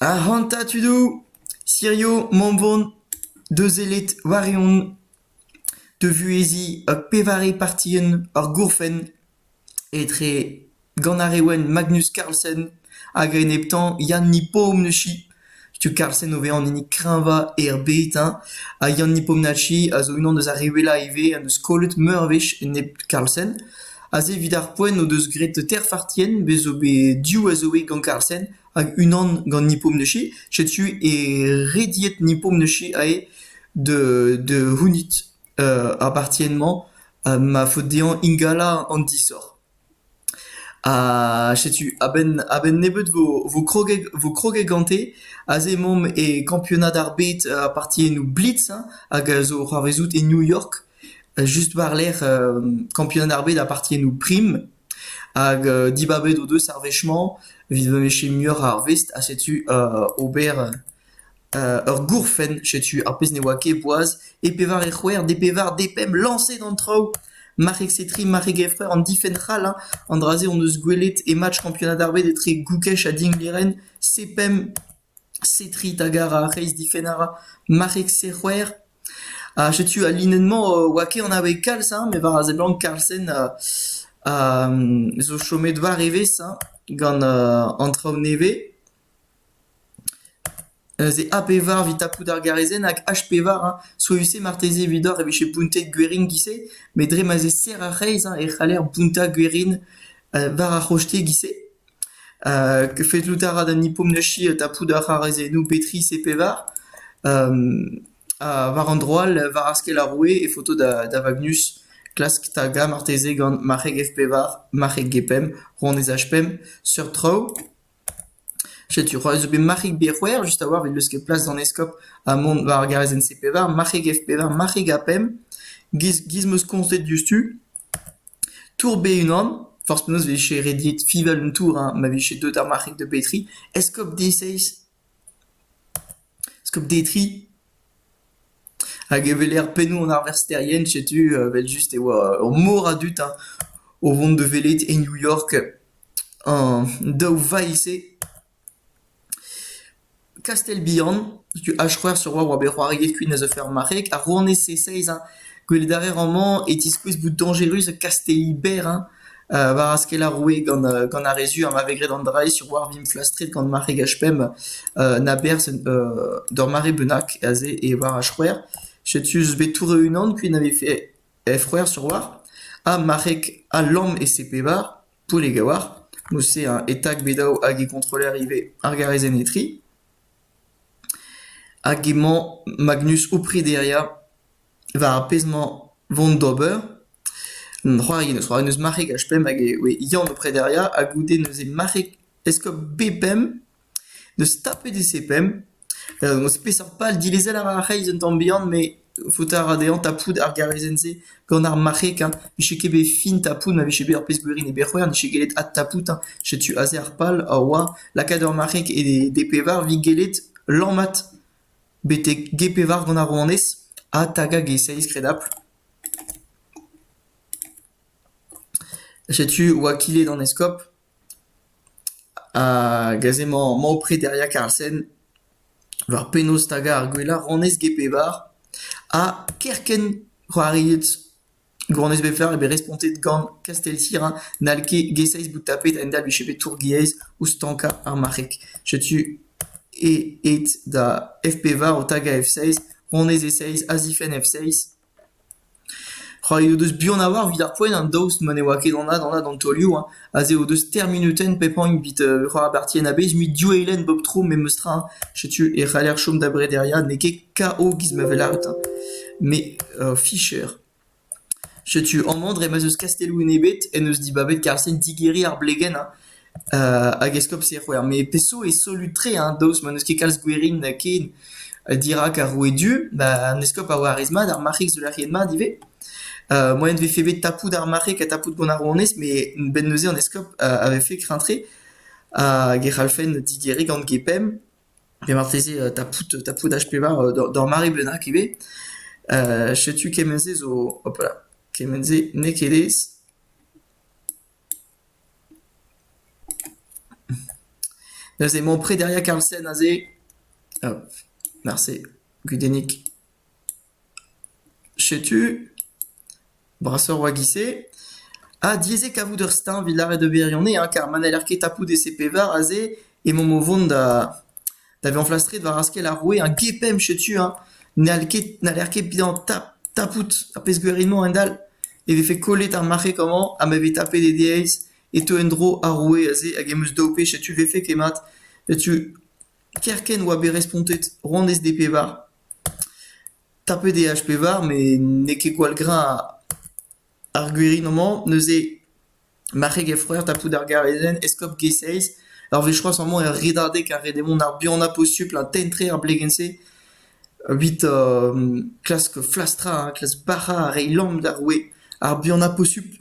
Ac'hanta tudou, sirio Montbon, da sellet war-eeun, da vuheziñ ur pevare partien ar gourfenn etre gant ar Reouen Magnus Carlsen hag a-enep-tañ Yann Nipom neuze. Setu kalz-sen o vezañ an hini kreñvañ er bed hein, ha Yanni Pomnacci a zo unan eus ar re wellañ ivez en deus kollet meur a wech enep Carlsen. Aze evit ar poent o deus graet teir fartienn, bez' zo bet div a zo bet gant Carlsen hag unan gant Nippo Mneci. Setu e rediet Nippo Mneci eo da da c'hounit ar bartienn-mañ, ha ma faot dezhañ ingalañ an disoc'h. Ha setu a-benn a-benn nebeut vo kroget vo kroget gante. Aze emaomp e kampionad ar bed ha partiennoù blitz hein hag a zo c'hoarvezout e New York just war-lerc'h kampionad ar bed ha partiennoù prim. Hag dibabet o deus ar wech-mañ evit ma vije muioc'h ar vest ha setu ober Ur gourfenn, setu ar pezh ne oa ket boaz, e pevare c'hwec'h de pevar de pemp lañset an traoù. Marc'heg Setri, marc'heg Efrer, an difenn c'hall hein. An dra-se hon eus gwelet e match Kampionad ar Bed etre Goukech ha Dinglêren. C-pemp, Setri tagar ar reizhdifenn a ra. Marc'heg C-c'hwec'h. Ha setu al linenn-mañ e oa ket anavet kalz hein, met war a seblant Carlsen zo chomet war evezh hein gant an traoù nevez. Neuze A-pevar evit tapout ar garezenn hag H-pevar hein, souezhus-se marteze evidoc'h e vije bountet Gueringuise met dre ma'z eo serr ar c'hreiz hein e c'haller bountañ Guerin war ar c'hostegi-se. Fellout a ra d'an Hippomneshi tapout ar c'harezennoù B tri, C pevar ha war an dro all war askell ar roue e faoto da Vagnus klask tagañ marteze gant marc'heg F pevar, marc'heg G pemp, rouanez H pemp, seurt traoù. Setu c'hoaz eo bet marc'hig bet c'hwec'h just a-walc'h evit leuskel plas d'an eskob ha mont war ar garazenn C pevar, marc'hig F pevar, marc'hig A pemp, giz giz 'm eus koñset diouzhtu. Tour B-unan, forzh penaos 'vije rediet fiñval un tour, hein, ma vije deut ar marc'hig da betriñ. Eskob D-seizh. Skopdetri hag e weler pennoù an arversterien setu evel-just e oa ur mor a dud hein o vont da welet e New York an daou vailh-se. Kastell bihan, setu achc'hwec'h sur oa bet c'hoariet kuit a zeufe ar marc'heg. Ar rouanez seizh hein gwelet a rae amañ e tiskouez bout dañjerus kastelli berr hein war a skell ar roue gant gant ar re zu ha ma vez graet an dra-se sur war Vimfla Street gant mare Gachpemp na berzh d'ur mare bennak aze e war ar c'hwec'h. Setu eus bet tour e-unan kuit na vefe c'hwec'h sur war. Ha marc'heg ha lamm e sepebar, Poulegawar, mouse a etak bet daou hag e kontroller ivez ar garrezenn etri. Hag emañ Magnus o prederiañ. war ar pezh-mañ 'vont d'ober, an c'hoari en deus c'hoari, en deus marc'heg HPM hag e oe Yann o prederiañ ha goude neuze marc'heg eskob B-Pemp 'neus tapet e C-Pemp, emañ peseurt pal dilezel a ra ar c'hreiz un tamm bihan met faota a ra dezhañ tapout ar garezenn-se gant ar marc'heg hein, 'vije ket bet fin tapout ma vije bet ur pezh gwirion e Berc'hwern 'vije gellet adtapout hein, setu aze ar pal a oa lakaat ur marc'heg e D-Pevar 'vit gellet lammat betek g-pevar gant ar rouanez, ha tagañ g-seizh kredabl. Setu oa kilet an eskob, hag aze emañ emañ o prederiañ Karlsen war penaos tagañ ar gwellañ rouanez g-pevar, ha kerkent c'hoariet. Gouronez Bevlar eo bet respontet gant Kasteltira n'hall ket Gesays bout tapet a-hend-all vije bet tour-gaezh ouzh stankañ ar marc'heg. Setu aet da F-pevar o tagañ F-seiz, Ronez E-seiz, Azifenn F-seiz. C'hoari o deus buan a-walc'h evit ar poent, an daoust ma ne oa ket anat anat an taolioù. Aze o deus teir munutenn pepagn evit repartién a-bezh mui div eilenn bep tro memestra hein. Setu e c'haller chom da brederia, n'eo ket KO giz ma vez lâret hein, met Fischer. Setu amañ dre ma'z eus kastelloù enebet en deus dibabet Carlsen digeriñ ar blegenn hein. hag eskopti e c'hwec'h, met peso eo solut-tre hein, daoust ma n'eus ket kalz gwerin ken dirak ar roue du, ba an eskob a oa a-rez mat, ar marc'hig zo lakaet mat ivez. moaien 'vefe bet tapout ar mare gant tapout gant ar rouanez met benn neuze an eskob a vefe kreñv-tre hag e c'hallfen didieriñ gant Gepemp pe marteze tapout tapout H-pevar d'ur mare bennak ivez. setu kement-se zo hopala kement-se n'eo ket aes. Neuze emañ prederia Karlsen aze. Marse, gudennig. Setu, brasoc'h war giz-se, ha diaes eo kavout ur steuñv evit lâret d'ober ganehañ kar ma n'heller ket tapout e se-pevar aze emaomp o vont da da vezañ flastret war askell ar roue a gepemp setu hañ n'hall ket n'haller ket bihañ tap tapout ar pezh gaer emañ a-hend-all e vefe kollet ar marc'heg amañ ha ma vez tapet e diaes e teu en-dro ar roue aze hag em eus daou wech setu 'vefe ket mat setu kerkent oa bet respontet honnezh d'e pevar. Tapet eo H-pevar met n'eo ket gwall greñv ar gwirioù-mañ. Neuze marc'heg he froer tapout ar garezenn, eskob G-Seiz. Ur wech c'hoazh emañ er redadeg ha ret eo mont ar buanañ posupl ha tenn-tre ar blegenn-se evit klask flastrañ, klask bac'hañ ha reiñ lamm d'ar roue. Ar buanañ posupl.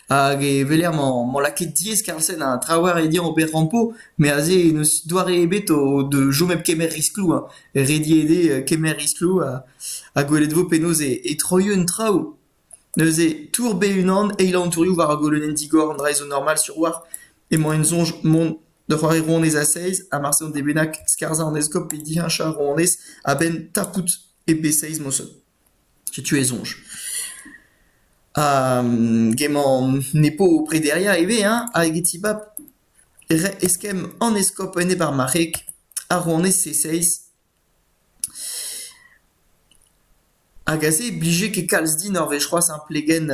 Hag e weler mañ lakaet diaes Karlsen ha traoù all rediañ ober rampo met aze n'eus doare ebet da chom hep kemer riskloù hein. Rediet eo kemer riskloù ha gwelet e vo penaos e troio an traoù. Neuze tourbe unan, eilañ an tourioù war ar golonenn digor an draezh zo normal sur oalc'h. Emañ en soñj mont da c'hoari rouanez a-seizh ha marse an dez bennak skarzhañ an eskob pe diheñchañ rouanez a-benn tapout e pe seizh moñsoñ. Setu e soñj. Emañ ne po prederiañ ivez hein, hag e tibab re- eskemm an eskob enep ar marc'heg, ar rouanez e-seizh. Hag aze e blije ket kalz din ur wech c'hoazh hein, plegenn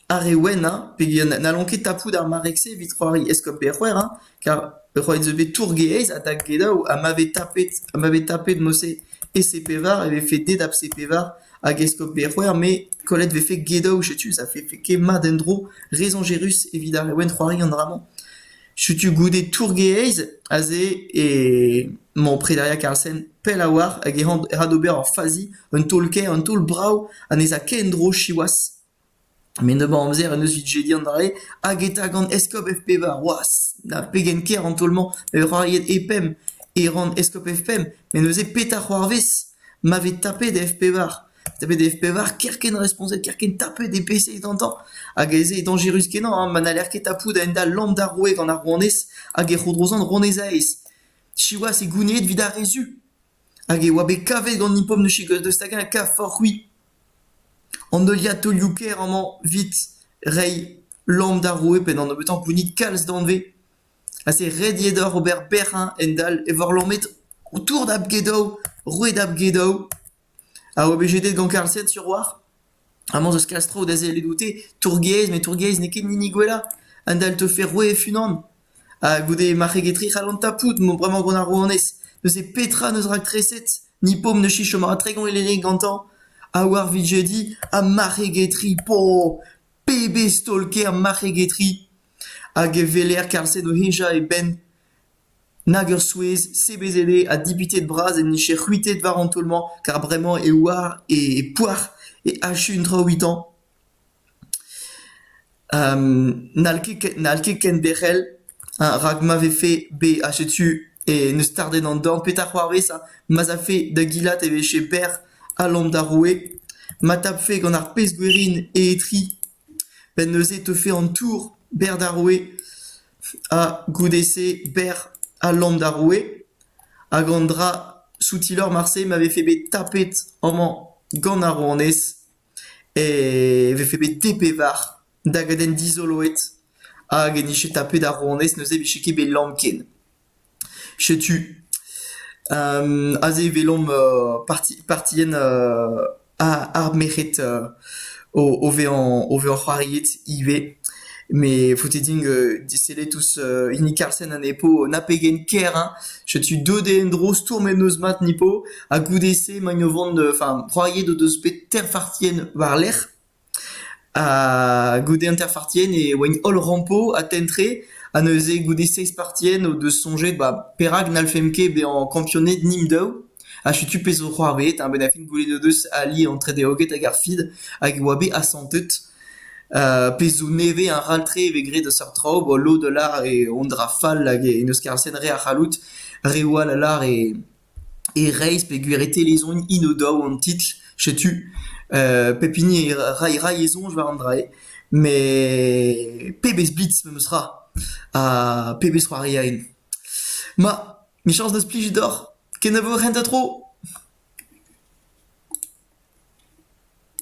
Ar re wennañ peogwir n'hallont ket tapout ar marreg-se evit c'hoari eskob Berc'hwec'h hein, car ur c'hoari zo bet tour-gaezh ha da gelaou ha ma vez tapet ha ma vez tapet mod-se EC-pevar e vefe deut a C-pevar hag eskob Berc'hwec'h me kollet vefe gelaou setu ça vefe ket mat en-dro, re soñjerus evit ar re wenn c'hoari an dra-mañ. Setu goude tourgaezh aze emañ Prederiañ Carlsen pell a-walc'h hag e ra d'ober ur fazi un taol-kaer un taol brav ha ne 'z a ket en-dro siwazh. Met nebeut amzer en deus evit jediñ adarre hag e ta gant eskob F5 c'hoazh. Na pegen ker an taol-mañ ma vez c'hoariet E5 e ran eskob F5 met neuze petra c'hoarvez ma vez tapet F5 Met e pevar kerkent responset, kerkent tapet e peseit gantañ, hag ez eo dañjerus-kenañ ha ma n'haller ket tapout a-hend-all lamm d'ar roue gant ar rouanez hag e c'hodrozan ronez-aez. Siwazh e gounid evit ar re-zu. Hag e oa bet kavet gant Nippon ne chegaus deus hag-eñ kafoc'h-c'hwi. An heuliad taolioù-kaer amañ evit reiñ lamm d'ar roue pe d'an nebeutañ gounid kalz danvez. Ha se ret eo deoc'h ober bec'h, hend-all, e voc'h lamet ho tour da Bgedou, roue da Bgedou. A oblije dezhe donc kaset sur oac'h? Amañ 'z eus kalz traoù da sellet oute. Tourgaezh met tourgaezh n'eo ket hini gwellañ. Un dall 'teu Ferroué e-unan. Ha goude marc'heg etre c'hall an tapout emañ bremañ gant ar rouanez. Neuze petra 'neus rakreset? Ni p'omp 'neus chom mat tregont elene gantañ. Ha war 'vid jediñ ha marc'heg etre. Po! Pebezh taol-kaer marc'heg etre! Hag e weler kaset o hejañ e benn. Nag ur souezh, sebezet eo, ha dipitet bras en dije c'hwitet war an taol-mañ, kar bremañ e oar e poac'h e achu un tra evitañ. n'hall ket ken- n'hall ket ken derc'hel, ha rak ma vefe bet achet tu e neus stardet an dorn, petra c'hoarvez ha ma'z afe da gilat e vije berr ha lom d'ar roue, ma tapfe gant ar pezh gwerin e etri. Benn neuze e teufe an tour berr d'ar roue, ha goude-se berr ha lamm d'ar roue, hag an dra soutilor marse ma vefe bet tapet amañ gant ar rouanez, e vefe bet te pevar dagadenn dizoloet, hag en dije tapet ar rouanez neuze e vije ket bet lamm ken. Setu aze e welomp partien ar merc'hed o vezañ c'hoariet ivez. Met faote din disellet ouzh hini Karlsen ha Nepo na pegen ker hein. Setu deuet eo en-dro stourm en noz mat Nepo ha goude-se emaint o vont enfin, c'hoariet o deus bet teir partien war-lerc'h. Goude hanter-partien e oaint holl rampo atentre ha neuze goude seizh partien o deus soñjet ba perak n'hallfemp ket bezañ kampioned nimp-daou ha setu pezh zo c'hoarvezet ha benn ar fin goulenn o deus ali an tredeoged hag ar FID hag e oa bet asantet pezh zo nevez ha ral-tre e vez graet a seurt traoù bo lod a lâr eo hon dra fall hag en deus kaset re a c'halloud, reoù all a lâr e E-reizh peogwir e telezont hino daou an titl, setu pep hini e ray ray e soñj war an dra-se, met pebezh blitz memes tra ha pebezh c'hoarieien. Ma, michañs da splijout deoc'h, kenavo hent ha tro!